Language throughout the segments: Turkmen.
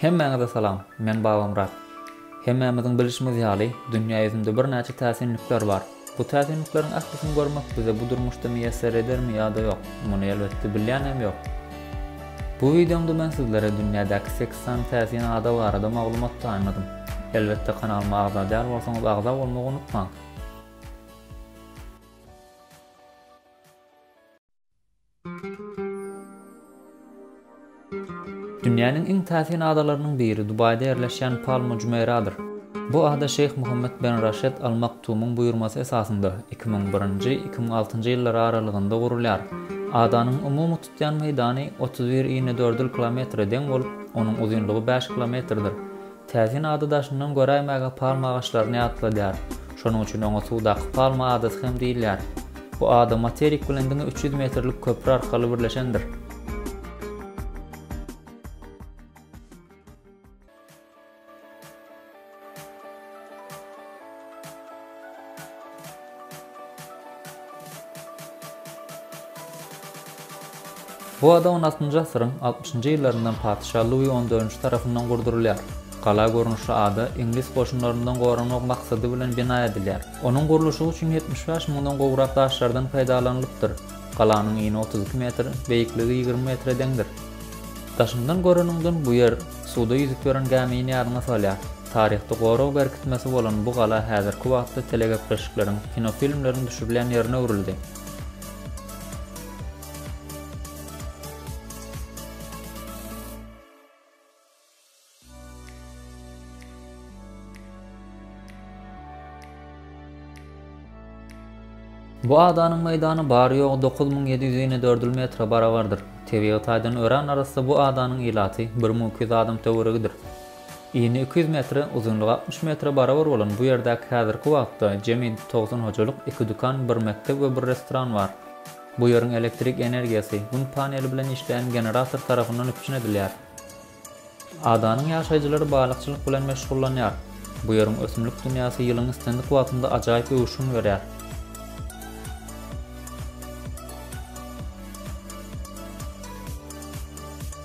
Hemmäňize salam, men Babamyrat. Hemmämiziň bilişimiz ýaly, dünýä ýüzünde birnäçe täsinlikler bar. Bu täsinlikleriň ählisini görmek bize bu durmuşda miýesser edermi ýa-da ýok, muny elbetde bilýänem ýok. Bu wideomda men sizlere dünýädäki sekiz sany täsin ada barada maglumat taýynladym. Elbetde kanalyma agza däl bolsaňyz agza bolmagy unutmaň. Dünýäniň iň täsin adalarynyň biri Dubaýda ýerleşýän Palma Jumeýradyr. Bu ada Şeýh Muhammet ben Raşed Al Maktumyň buýurmasy esasynda, iki müň birinji, iki müň altynjy ýyllary aralygynda gurulýar. Adanyň umumy tutýan meýdany otuz bir inedördül kilometre deň bolup, onuň uzynlygy bäş kilometrdir. Täsin ady daşyndan göräýmäge palma agaçlaryny ýatladýar. Şonuň üçin oňa suwdaky palma adasy hem diýilýär. Bu ada materik bilen diňe üç ýüz metrlik köpri arkaly birleşendir. Bu ada on altynjy asyryň altmyşynjy ýyllaryndan patyşa Lui on dördünji tarapyndan gurdurylýar. Gala görnüşli ada iňlis goşunlaryndan goranmak maksady bilen bina edilýär. Onuň gurluşygy üçin ýetmiş bäş müňden gowrak daşlardan peýdalanylypdyr. Galanyň ini otuz iki metr, beýikligi ýigrimi metre deňdir. Daşyndan göreniňden bu ýer suwda ýüzüp ýören gämini ýadyňa salýar. Taryhda gorag berkitmesi bolan bu gala häzirki wagtda telegepleşikleriň, kinofilmleriň düşürilýän ýerine öwrüldi. Bu adanyň meýdany bary-ýogy dokuz müň ýedi ýüz inedördül metre barabardyr. Tebigy taýdan örän arassa bu adanyň ilaty bir müň iki ýüz adam töweregidir. Ini iki ýüz metre, uzynlygy altmyş metre barabar bolan bu ýerdäki häzirki wagtda jemi togsan hojalyk, iki dükan, bir mekdep we bir restoran bar. Bu ýeriň elektrik energiýasy Gün paneli bilen işleýän generator tarapyndan üpjün edilýär. Adanyň ýaşaýjylary balykçylyk bilen meşgullanýar. Bu ýeriň ösümlik dünýäsi ýylyň islendik wagtynda ajaýyp öwüşgin berýär.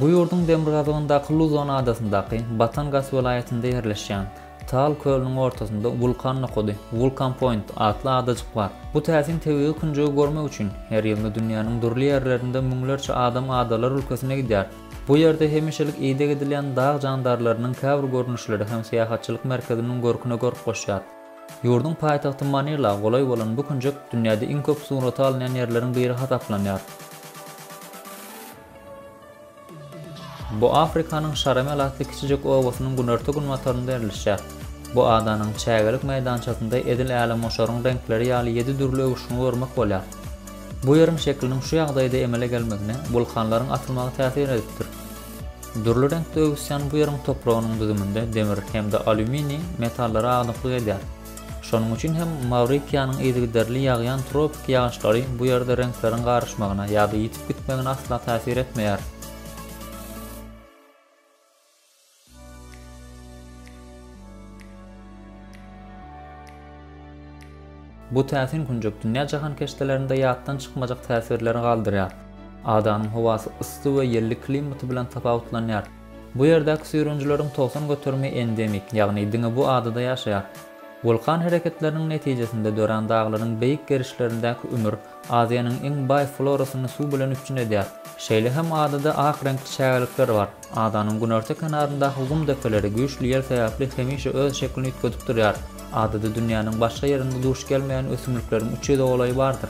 Bu ýurduň demirgazygyndaky Luzon adasyndaky Batangas welaýatynda ýerleşýän Taal kölüniň ortasynda Wulkan nokady, Vulcan Point, atly adajyk bar. Bu täsin tebigy künjegi görmek üçin her ýylda dünýäniň dürli ýerlerinden müňlerçe adam adalar ülkesine gidýär. Bu ýerde hemişelik ideg edilýän dag jandarlarynyň käbir görnüşleri hem syýahatçylyk merkeziniň görküne görk goşýar. Ýurduň paýtagty Manila golaý bolan bu künjek dünýäde iň köp surata alynýan ýerleriň biri hasaplanýar. Bu Afrikanyň Şaramel atly kiçijek obasynyň günorta-günbatarynda ýerleşýär. Bu adanyň çägelik meýdançasynda edil älemgoşaryň reňkleri ýaly ýedi dürli öwüşgini görmek bolýar. Bu ýeriň şekliniň şu ýagdaýda emele gelmegine wulkanlaryň atylmagy täsir edipdir. Dürli reňkde öwüsýän bu ýeriň topragynyň düzüminde demir hem-de alýuminiý metallary aglyklyk edýär. Şonuň üçin hem Mawritiýanyň yzygiderli ýagýan tropiki ýagyşlary bu ýerde reňkleriň garyşmagyna ýa-da ýitip gitmegine asla täsir etmeýär. Bu täsin künjek dünýä jahankeşdelerinde ýatdan çykmajak täsirleri galdyrýar. Adanyň howasy yssy we ýelli klimaty bilen tapawutlanýar. Bu ýerdäki süýrenijileriň togsan göterimi endemik, ýagny diňe bu adada ýaşaýar. Wulkan hereketleriniň netijesinde dörän daglaryň beýik gerişlerindäki ümür Aziýanyň iň baý florasyny suw bilen üpjün edýär. Şeýle hem adada ak reňkli çägelikler bar. Adanyň günorta kenaryndaky gum depeleri güýçli ýel sebäpli hemişe öz şeklini üýtgedip durýar. Adada dünýäniň başga ýerinde duş gelmeýän ösümlikleriň üç ýüze golaýy bardyr.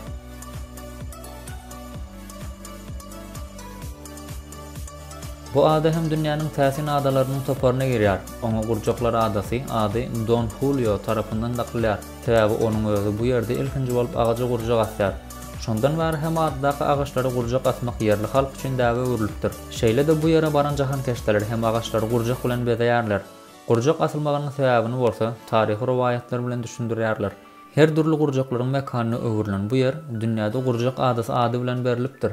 Bu ada hem dünýäniň täsin adalarynyň toparyna girýär. Oňa Gurjaklar adasy ady Don Hulio tarapyndan dakylýar, sebäbi onuň özi bu ýerde ilkinji bolup agaja gurjak asýar. Şondan bäri hem adadaky agaçlara gurjak asmak ýerli halk üçin däbe öwrülipdir. Şeýle-de bu ýere baran jahankeşdeler hem agaçlary gurjak bilen bezeýärler. Gurjak asylmagynyň sebäbini bolsa, taryhy rowaýatlar bilen düşündirýärler. Her dürli gurjaklaryň mekanyna öwrülen bu ýer dünýäde Gurjak adasy ady bilen berlipdir.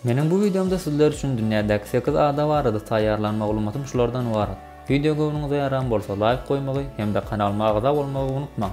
Meniň bu wideomda sizler üçin dünýädäki sekiz ada barada taýýarlan maglumatym şulardan ybarat. Wideo göwnüňize ýaran bolsa laýk goýmagy hem-de kanalyma agza bolmagy unutmaň.